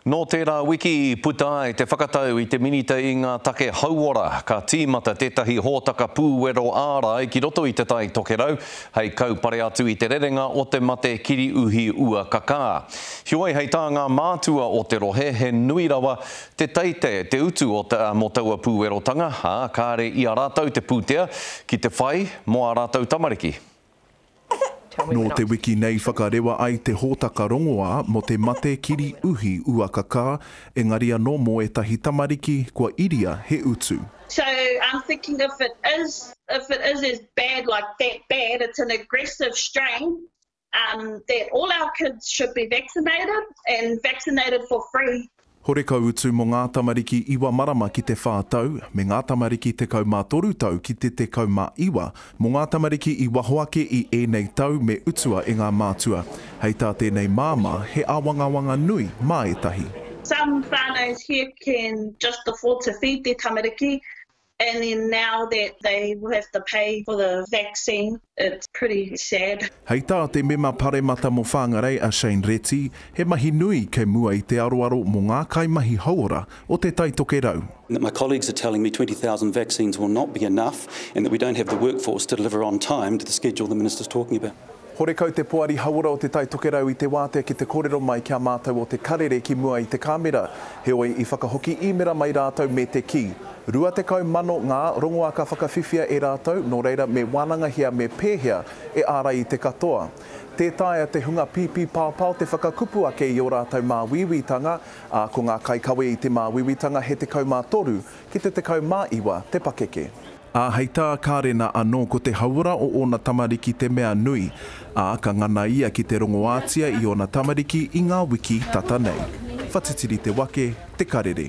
Nō tērā wiki i puta ai te whakatau i te Minita i ngā Take Hauora, ka tīmata tētahi hōtaka pūwero ārai ki roto i Te Tai Tokerau hei kaupare atu i te rerenga o te mate kiri uhi ua kakā. Heoi, hei tā ngā mātua o te rohe, he nui rawa te teite, te utu mō taua pūwerotanga, ā, kāre i a rātou te pūtea ki te whai mō ā rātou tamariki. Nō te wiki nei whakarewa ai te hōtaka rongoā mō te mate kiri uhi uakakā, engari anō mō ētahi tamariki kua iria he utu. So I'm thinking if it is if it is as bad like that bad it's an aggressive strain um that all our kids should be vaccinated and vaccinated for free. Horekau utu mō ngā tamariki iwa marama ki te whā tau, me ngā tamariki tekau mā toru tau ki te tekau mā iwa. Mō ngā tamariki i waho ake i ēnei tau me utua e ngā mātua. Hei tā tēnei māmā, he āwangawanga nui mā ētahi. Some whānaus here can just afford to feed their tamariki And then now that they will have to pay for the vaccine, it's pretty sad. Hei tā te Mema Paremata mō Whangarei a Shane Reti, he mahi nui kei mua i te aroaro mō ngā kaimahi hauora o Te Taitokerau. And that my colleagues are telling me 20,000 vaccines will not be enough and that we don't have the workforce to deliver on time to the schedule the minister is talking about. Horekau te Poari Hauora o Te Tai Tokerau i te wātea ki te kōrero mai ki a mātou o Te Karere ki mua i te kāmera, heoi i whakahoki īmera mai rātou me te kī, 20,000 ngā rongoā ka whakawhiwhia e rātou, nō reira me wānangahia me pēhea e ārai i te katoa. Tē taea te hunga pīpīpaopao te whakakupu ake i ō rātou māuiuitanga, ā, ko ngā kaikawe i te māuiuitanga he 13 ki te 19 te pakeke. Ā, hei tā Karena anō ko te hauora o ōna tamariki te mea nui, ā, ka ngana ia ki te rongoātia i ōna tamariki i ngā wiki tata nei. Whatitiri te wake, te karere.